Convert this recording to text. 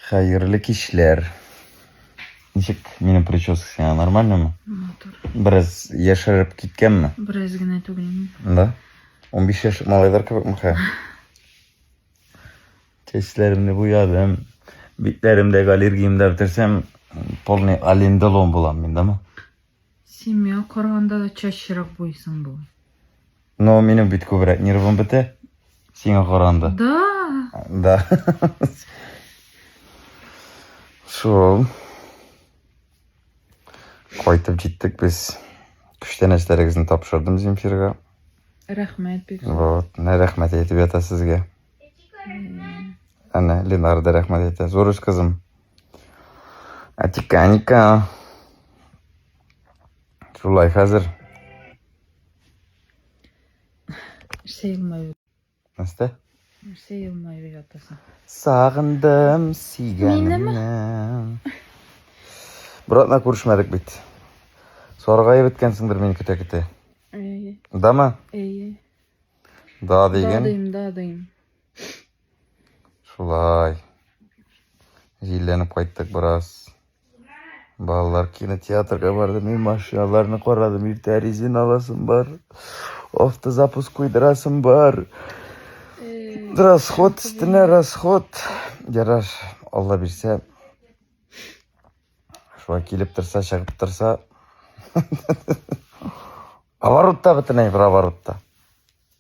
Хәерле кичләр. Ничек минем прическа сиңа нормальнымы? Матур. Бераз яшәреп киткәнме? Бераз генә түгелме? Да. 15 яшь малайлар кебекме хә? Чәчләремне буядым. Битләремдәге аллергиямдә бетерсәм, полный аллендолом булам мин, да? Семья корганда да чачырак буйсың бу. Но минем бит күбрәк нервым бетә. Сиңа каранда. Да. Да. Шул. Кайтып җиттек без. Күчтәнәчләрегезне тапшырдым Земфирга. Рәхмәт бик. Вот, нә рәхмәт әйтеп ята сезгә. Әнә Ленар да рәхмәт әйтә. Зурыш кызым. Атика, Аника. Шулай хәзер. Нәрсә елмаю? Нәрсә? Нәрсә елмаю ятасың? Сагындым сөйгәнемне. Братна күрешмәдек бит. Саргая беткәнсеңдер мин көтә-көтә. Әйе. Дама? Әйе. Да дигән. Да дим, да дим. Шулай. Җилләнеп кайттык бераз. Балалар кинотеатрга барды, мин машиналарны карадым, иртә резин аласым бар. Автозапуск куйдырасым бар. Расход өстенә расход. Ярар, Алла бирсә. Шулай килеп торса, чыгып торса. Оборотта бөтенләй бер оборотта.